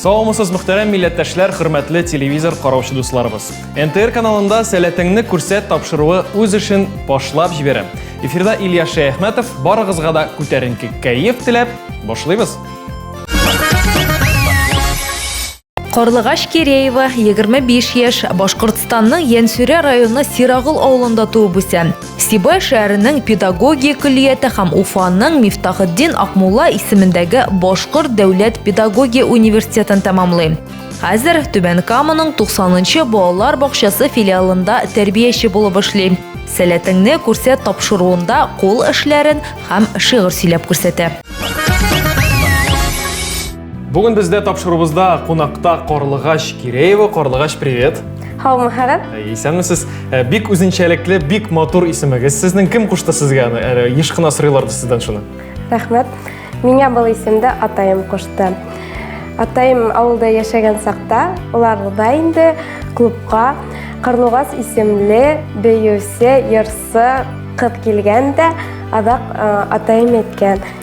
Саумысыз мөхтәрәм милләттәшләр, хөрмәтле телевизор караучы дусларыбыз. НТР каналында сәләтеңне күрсәт тапшыруы үз эшен башлап җибәрә. Эфирда Илья Шәяхмәтов, барыгызга да күтәренке кәеф теләп, башлыйбыз. Карлыгач Киреева, 25 яшь, Башкортстанның Янсүрә районы Сирагыл авылында туып үсә. Сибай шәһәренең педагогия көллияте һәм Уфаның Мифтахетдин Акмулла исемендәге Башкорт дәүләт педагогия университетын тәмамлый. Хәзер Түбән Каманың 90-нчы балалар бакчасы филиалында тәрбияче булып эшли. Сәләтеңне күрсәт тапшыруында кул эшләрен һәм шигырь сөйләп күрсәтә. Бүген бездә тапшыруыбызда кунакта Карлыгач Киреева. Карлыгач, привет! Һаумыһыгыз. Исәнмесез. Э, бик үзенчәлекле, бик матур исемегез. Сезнең кем кушты сезгә аны? Әле еш кына сорыйлар сездән шуны. Рәхмәт. Миңа был исемде атаем кушты. Атаем авылда яшәгән сакта, улар да инде клубка Карлыгас исемле бөюсе, ярсы кыз килгән дә, адак э, атаем әйткән.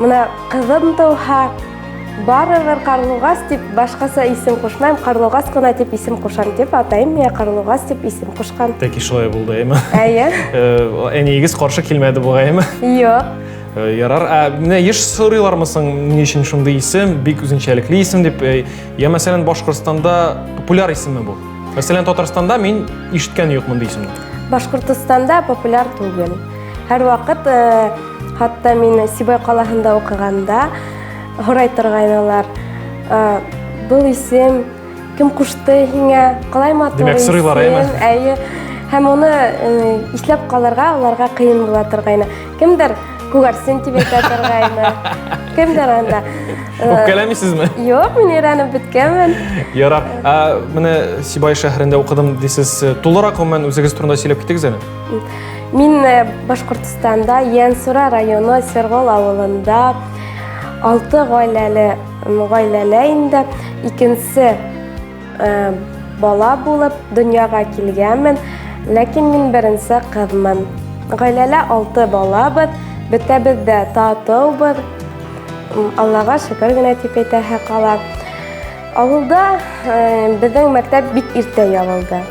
Менә кызым туһа, барыбер Карлугас дип башкаса исем кушмам, Карлугас кына дип исем кушам дип, атайым миңа Карлугас дип исем кушкан. Тәки шулай булды, әйме? Әйе. Әниегез каршы килмәде бугай, әйме? Юк. Ярар, ә менә еш сорыйлармы соң, ни өчен шундый исем, бик үзенчәлекле исем дип, я мәсәлән Башкортстанда популяр исеме бу. Мәсәлән Татарстанда мин ишеткән юк мондый исемне. Башкортстанда популяр түгел. Һәрвакыт хатта мин Сибай калаһында укыганда һорай торгайнылар. Бул исем кем кушты һиңә? Калай матур. Димәк, сырыйлар, әйме? Әйе. Һәм аны исләп калырга аларга кыен була торгайны. Кемдер күгәрсен дип әйтә торгайны. Кемдер анда. Үпкәләмисезме? Юк, мин өйрәнеп беткәнмен. Ярар. Менә Сибай шәһәрендә укыдым дисез. Тулырак гомумән үзегез турында сөйләп китегез әле. Мин э, Башкортстанда Янсура районы Сергол авылында алты гаиләле гаиләле инде икенче э, бала булып дөньяга килгәнмен, ләкин мин беренче кызмын. Гаиләлә алты балабыз, бетәбез дә татыубыз. Аллага шөкер генә дип әйтәһе кала. Авылда э, безнең мәктәп бик иртә ябылды.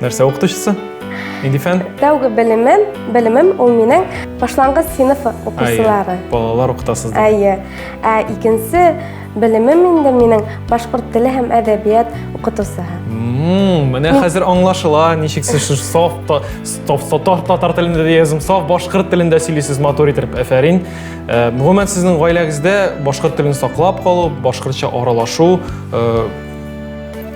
Нәрсә укытучысы? Нинди фән? Тәүге белемем, белемем ул минең башлангыч сыйныф укучылары. Балалар укытасыз. Әйе. Ә икенче белемем инде минең башкорт теле һәм әдәбият укытусы. Менә хәзер аңлашыла, ничек сез саф татар телендә дә язым, саф башкорт телендә сөйлисез матур итеп. Әфәрин. Э, гомумән сезнең гаиләгездә башкорт телен саклап калу, башкортча аралашу э,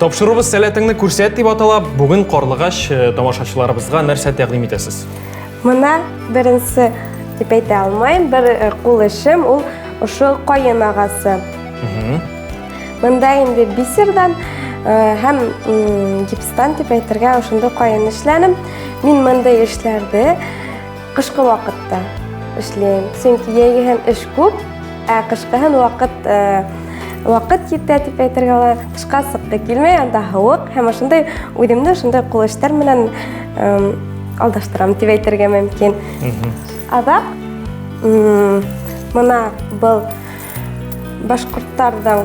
Тапшыруыбыз сәләтеңне күрсәт дип атала. Бүген карлыгач э, тамашачыларыбызга нәрсә тәкъдим итәсез? Мына беренче дип әйтә алмыйм, бер э, кул эшем ул ошо каен агасы. Монда инде бисердан э, һәм гипстан дип әйтергә ошондый каен эшләнем. Мин мондый эшләрде Кышкы вакытта эшлим, чөнки яйгы һәм эш күп, ә кышкы һәм вакыт э, вакыт җитә дип әйтергә була. Кышка сыккы килмәй, анда һавык һәм шундай үземне шундай кул эшләр белән э, алдаштырам дип әйтергә мөмкин. Азак мына был башкортларның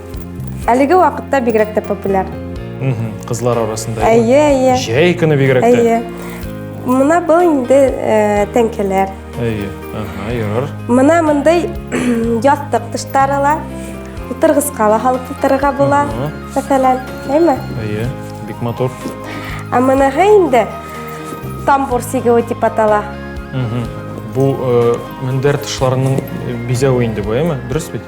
Әлеге вакытта бигрәк тә популяр. Кызлар арасында. Әйе, әйе. Җәй көне бигрәк тә. Әйе. Мына был инде э, тәңкәләр. Әйе. Ага, ярар. Мына мондый ястык тыштарыла. Утыргызга ла халык утырырга була. Мәсәлән, әйме? Әйе, бик матур. Ә моныга инде тамбур сигеүе дип атала. Бу э, мендәр тышларының э, бизәве инде бу, әйме? Дөрес бит?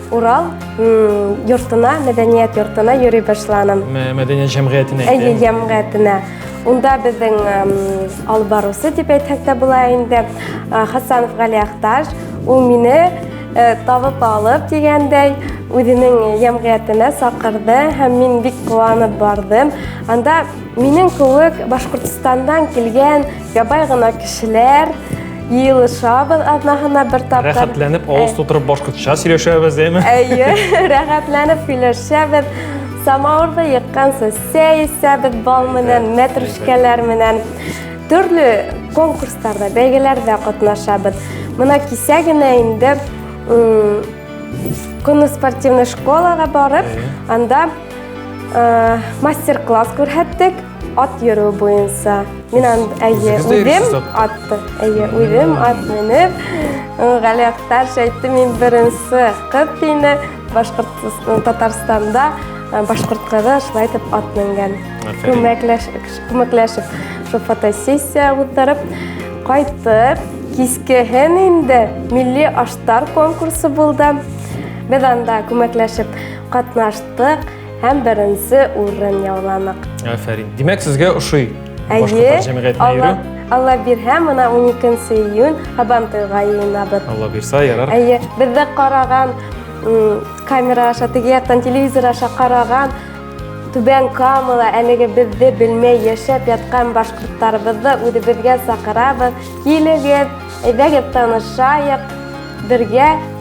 Урал йортына, мәдәният йортына йөри башланым. Мәдәният җәмгыятенә. Әйе, җәмгыятенә. Унда безнең алып барусы дип әйтсәк тә була инде. Хасанов Гали Ахташ, ул мине э, табып алып дигәндәй, үзенең җәмгыятенә сакырды һәм мин бик куанып бардым. Анда минем кебек Башкортстандан килгән Ябай гына кешеләр, Елышабыз атнахына бер тапкыр. Рәхәтләнеп авыз тутырып башкортча сөйләшәбез, әйме? Әйе, рәхәтләнеп сөйләшәбез. Самавырда яккан сәсә исәбез бал менән, мәтрүшкәләр менән. Төрле конкурсларда, бәйгеләрдә катнашабыз. Мына кисә генә инде Күнне спортивный школага барып, анда мастер-класс күрһәттек. Ат йөрү буенча. Мин анд әйе үдем атты. Әйе үдем ат менеп. Гали Актар әйтте мин беренче кыз тине Башкортстан Татарстанда башкорт кызы шулай итеп ат менгән. Күмәкләшеп, шул фотосессия үткәреп кайтып, кискеһен инде милли аштар конкурсы булды. Без анда күмәкләшеп катнаштык. һәм беренче урын яуладык. Афәрин. Димәк, сезгә ошый башкортлар җәмгыятенә йөрү? Алла бирһә, мына 12 июнь Һабантуйга йыенабыз. Алла бирсә, ярар. Әйе, бездә караган камера аша, теге яктан телевизор аша караган Түбән Камала әлеге безне белмәй яшәп яткан башкортларыбызны үзебезгә сакырабыз. Килегез, әйдәгез танышайык, бергә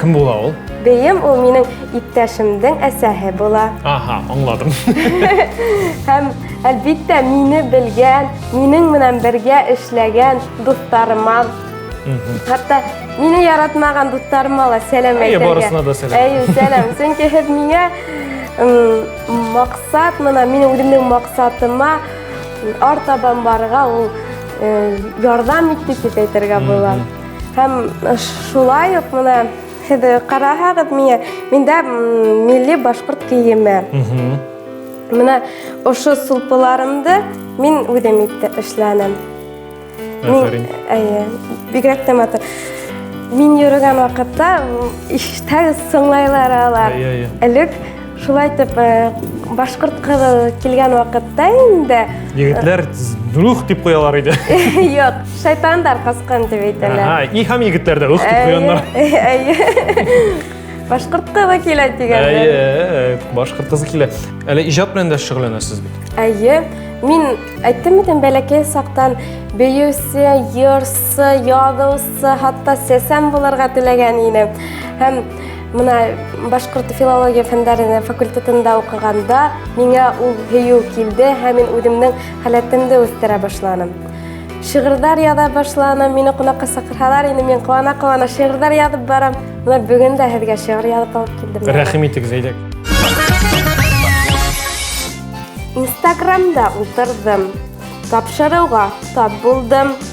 Кем була ул? Бейем ул минең иптәшемнең әсәһе була. Аһа, аңладым. Һәм әлбиттә мине белгән, минең менән бергә эшләгән дусларыма. Хәтта мине яратмаган дусларыма ла сәлам әйтергә. Әйе, барысына да сәлам. Әйе, сәлам. Чөнки һез миңа максат, менә минем үземнең максатыма артабан барырга ул ярдәм итте дип әйтергә була. Һәм шулай ук менә һез караһагыз миңа, миндә милли башкорт киеме. Менә ошо сулпыларымды мин үзем итте эшләнем. Афәрин. Әйе, бигрәк тә матур. Мин йөргән вакытта ишетәбез сыңлайлар алар. Әйе, әйе. Элек Шулай итеп, башкорт кызы килгән вакытта инде Егетләр дух дип куялар иде. Юк, шайтандар каскан дип әйтәләр. Ага, и һәм егетләр дә ух дип куяннар. Башкорт кызы килә дигәндә. Әйе, башкорт кызы килә. Әле иҗат белән дә шөгыльләнәсез бит. Әйе. Мин әйттем бит бәләкәй сактан бейүсе, йырсы, ягылсы, хатта сәсән булырга теләгән идем. Һәм Менә башкорт филология фәннәре факультетында укыганда миңа ул һөю килде һәм мин үземнең халәтемне үстерә башладым. Шигырьләр яза башладым, мине кунакка чакырсалар, инде мин куана-куана шигырьләр язып барам. Менә бүген дә һезгә шигырь язып алып килдем. Рәхим итегез, әйдәк. Инстаграмда утырдым, тапшыруга тап булдым.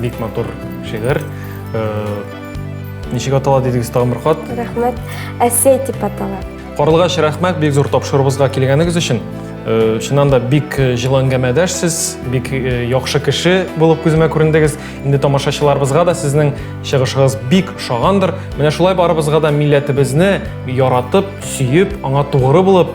Бик матур шигырь. Э, ничек атала дидегез тагын бер кат? Рәхмәт. Әсәй дип атала. Карлыгач, рәхмәт бик зур тапшыруыбызга килгәнегез өчен. Э, чыннан да бик э, җылы әңгәмәдәшсез, бик яхшы кеше булып күземә күрендегез. Инде тамашачыларыбызга да сезнең чыгышыгыз бик шагандыр. Менә шулай барыбызга да милләтебезне яратып, сөеп, аңа тугры булып